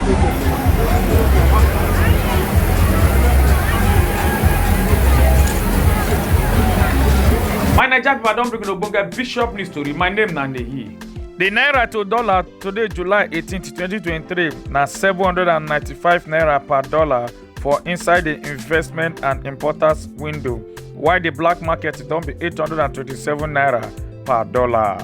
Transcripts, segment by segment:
My Naija people, I don bring una ogbonge bishop news tori. My name na Nehi. The naira to dollar today, July 18, 2023, na 795 naira per dollar. for inside di investment and importers window while di black market don be 827 naira per dollar.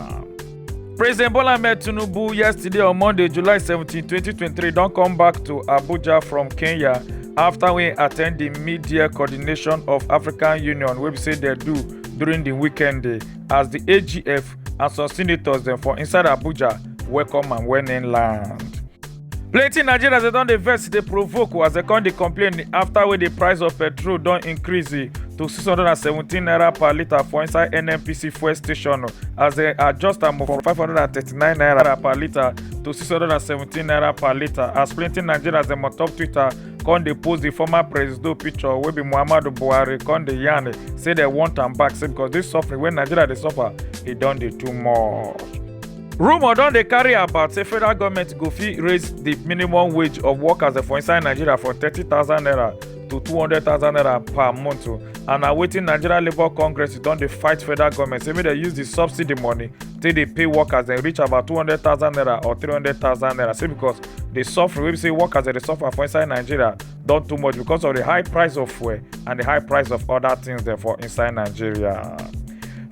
President Bola Ahmed Tinubu yesterday on Monday, July 17, 2023 don come back to Abuja from Kenya after we attend the media coordination of African Union wey be say dem do during the weekend day as the AGF and some senators dem for inside Abuja welcome am when im land. plenty nigerians dey don dey vex dey provoke as dem come dey complain after wey di price of petrol don increase eh, to 617 naira per litre for inside nnpc fuel station as dem adjust am from 539 naira per litre to 617 naira per litre as plenty nigerians dem on top twitter come dey post di former presido picture wey be muhammadu buhari come dey yarn eh, say dem want am back say because dis suffering wey nigeria dey suffer e don dey too much. rumour don dey carry about say federal goment go fit raise di minimum wage of workers for inside nigeria from thirty thousand naira to two hundred thousand naira per month o and na wetin nigeria labour congress don dey fight federal goment say make dem use di subsidy money take dey pay workers dem reach about two hundred thousand naira or three hundred thousand naira say because di suffering wey be say workers dem dey suffer for inside nigeria don too much because of the high price of fuel and the high price of other things dem for inside nigeria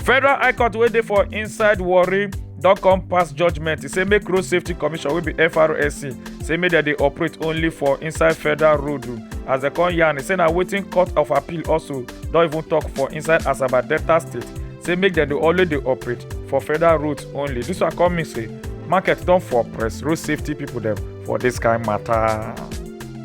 federal high court wey dey for inside warri don come pass judgement e say make road safety commission wey be frsa say make dem dey operate only for inside federal road as dem come yarn e say na wetin court of appeal also don even tok for inside asaba delta state say make dem dey always dey operate for federal roads only dis one come mean say market don for press road safety pipo dem for this kind matter.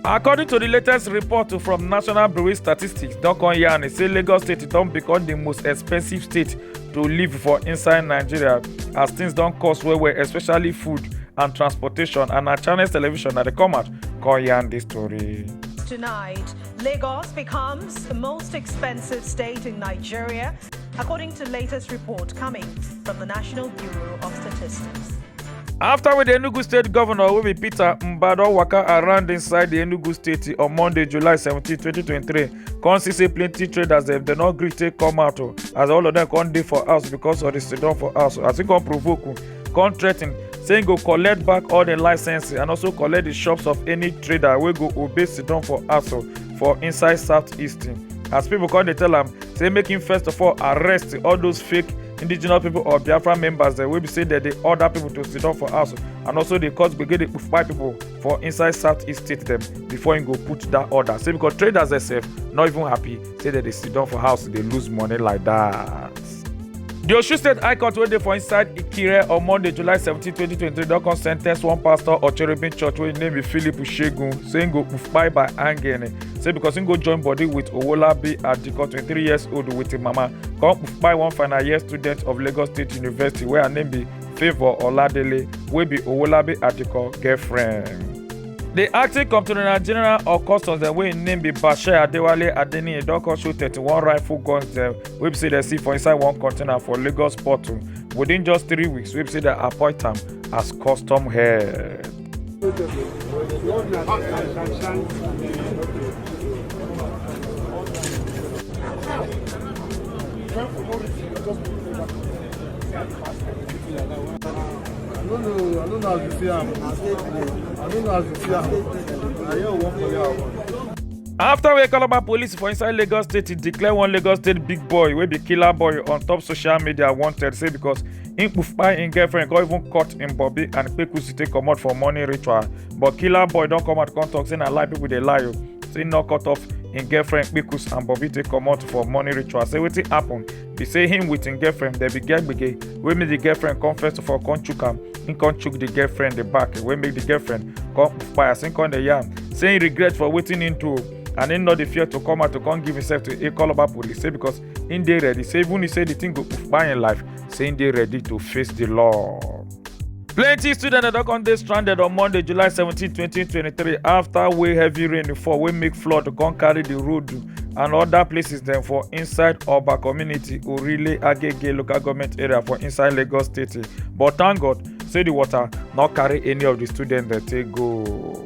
According to the latest report from National Bureau of Statistics, Dokon Yan say Lagos State don become the most expensive state to live for inside Nigeria as things don cost well well especially food and transportation and na Channels Television na dey come out come yarn the story. Tonight, Lagos becomes the most expensive state in Nigeria, according to latest report coming from the National Bureau of Statistics. afta wey di enugu state govnor wey be peter mbah don waka around inside di enugu state on monday july 17 2023 come see say plenty traders dem dem no gree take come out o as all of dem come dey for house because of di siddon for house as e come provoke o come threaten say e go collect back all di licenses and also collect di shops of any trader wey go obey siddon for house o for inside southeast as pipo come dey tell am say make him first of all arrest all those fake indigenous people or biafra members dem wey be say dem dey order people to sit down for house and also dey cause gbege dey kpai people for inside southeast state dem before him go put that order say because traders sef no even happy say dem dey sit down for house dey lose money like that. di osun state high court wey dey for inside ikire on monday july 17 2023 don come sentence one pastor or cherubim church wey im name be philip shegun say im go kpai by hanging say because he go join body with Owolabi Adiko, 23 years old with him mama, come buy one final year student of Lagos State University where her name be Favour Oladele, wey be Owolabi Adiko girlfriend. The acting comptroller general of customs dem wey im name be Bashir Adewale Adeniyi don come show 31 rifle guns dem wey be say dem see for inside one container for Lagos port within just three weeks wey be say dem appoint am as custom head. I don't know, I don't know how to see am. I don't know how to see am. I hear one for your afta wey calabar police for inside lagos state declare one lagos state big boy wey be killer boy on top social media wanted say because. Im kpai im girlfriend come even cut im bobby and kpekusi take comot for morning ritual. But killer boy don come out come talk say na lie people dey lie o. Say im no cut off im girlfriend kpekus and bobby take comot for morning ritual. Say wetin happen be say him with im girlfriend dem be get gbege wey make the girlfriend come first of all come chook am. Im come chook the girlfriend the back wey make the girlfriend come kpai as im come dey yarn say im regret for wetin im do o. and him no dey fear to come out to come give himself to Ikoloba police say because him dey ready say even if say the thing go kpai him life say him dey ready to face the law. plenty students don come dey stranded on monday july 17 2023 after wey heavy rain fall wey make flood come carry the road and other places dem for inside oba community orile agege local government area for inside lagos state but thank god say the water no carry any of the students dem take go.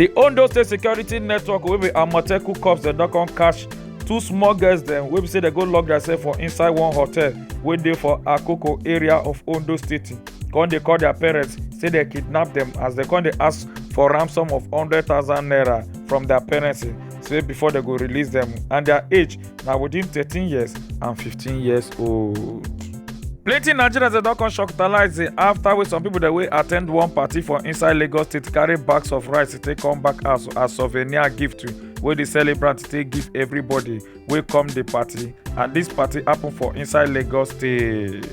The Ondo State Security Network wey be Amotekun Corps dem don come catch two small girls dem wey be say dem go lock themselves for inside one hotel wey dey for akoko area of ondo state come dey call their parents say dem kidnap dem as dem come dey ask for ransom of hundred thousand naira from their parents say before dem go release dem and their age na within thirteen years and fifteen years old. plenty nigerians dey don come shocktalize after wey some people dey wey at ten d one party for inside lagos state carry bags of rice take come back house as souvenir gift wey the celebrant take give everybody wey come the party and this party happen for inside lagos state.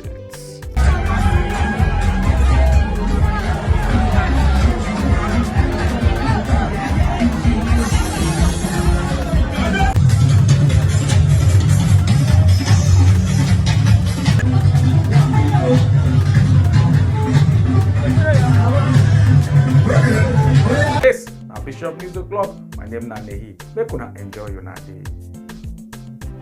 na bishop news o'clock my name na nehi make una enjoy una day.